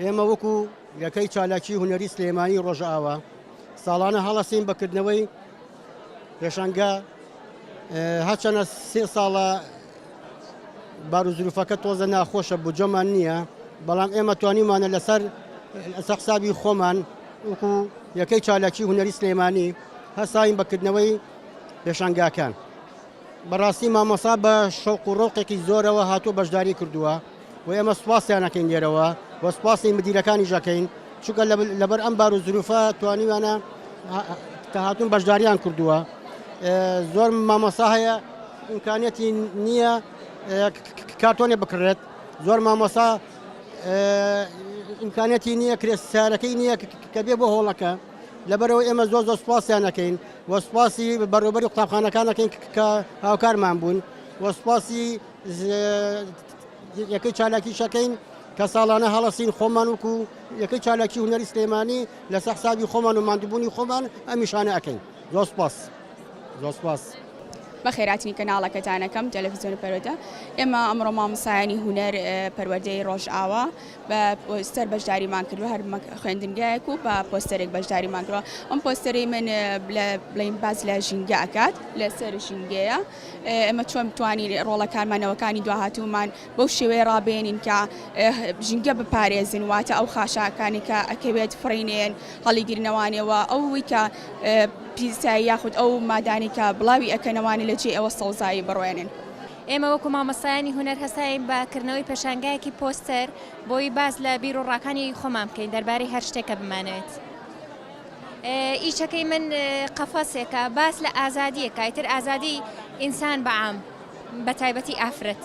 ئێمە وەکو یەکەی چالاکی هونەری سلێمانی ڕۆژئاوا ساڵانە هەڵەسین بەکردنەوەی پێشەنگە هەچەنە سێ ساڵە باروزروفەکە تۆزە ناخۆشە بجەمان نییە بەڵام ئێمە توانیمانە لەسەر سەقسابی خۆمان وەکو یەکەی چالاکی هونەری سلێمانی هەساین بەکردنەوەی پێشەنگاکان بەڕاستی مامۆسا بە شەوق و ڕۆقێکی زۆرەوە هاتوو بەشداری کردووە وە ئێمە سوپاسیان ئەکەین لێرەوە وە سوپاسی مدیرەکانیش ئەکەین چونکە لەبەر ئەم بار و زروفە توانیویانە کە هاتوون بەشداریان کردووە زۆر مامۆسا هەیە ئیمکانەتی نییە کارتۆنێ بکڕێت زۆر مامۆسا ئیمکانەتی نییە کرێ سارەکەی نییە کە بێ بۆ هۆڵەکە لەبەرەوە ئێمە زۆر زۆر سوپاسیانەکەین وە سوپاسی بەڕێوبەری قوتابخانەکانەکەین کە هاوکارمان بوون وە سوپاسی یەکەی چالاکی شەکەین کە ساڵانە هەڵەسین خۆمان وکو یەکەی چالاکی هونەری سلێمانی لە سەحسابی خۆمان و مادبوونی خۆمان ئەمیشانە ئەەکەین زۆسپاس زۆسپاس. بە خێراتنی کەناڵەکەتانەکەم تەلەفزیۆن پەرۆتە ئێمە ئەمڕۆ مامۆسایانی هوەر پەروەردەی ڕۆژئاوا بە پۆستەر بەشداریمان کردو هەر خوێندنگایەک و بە پۆستەرێک بەشداریمان کردوە ئەم پۆستەری من بڵین باز لە ژینگە ئەکات لەسەر ژینگەیە. ئێمە چۆن بتوانین ڕۆڵە کارمانەوەکانی دواهاتوومان بەو شێوەیە ڕابێنین کە ژینگە بپارێزین واتە ئەو خاشاکانی کە ئەکەوێت فڕینێن هەڵیگرنەوانەوە ئەوەی کە پیسایی یاخود ئەو مادانی کە بڵاوی ئەکەنەوانی لە جێ ئەوە سەوزایی بڕوێنن. ئێمە وەکو مامۆستایانی هونەر هەستاین بە کردنەوەی پێشانگایەکی پۆستەر بۆی باس لە بیر و ڕاکانی خۆمان بکەین دەربارەی هەر شتێک کە بمانەوێت. ئیچەکەی من قەفەسێکە باس لە ئازادییەکە ئیتر ئازادی ئینسان بە عام بە تایبەتی ئافرەت.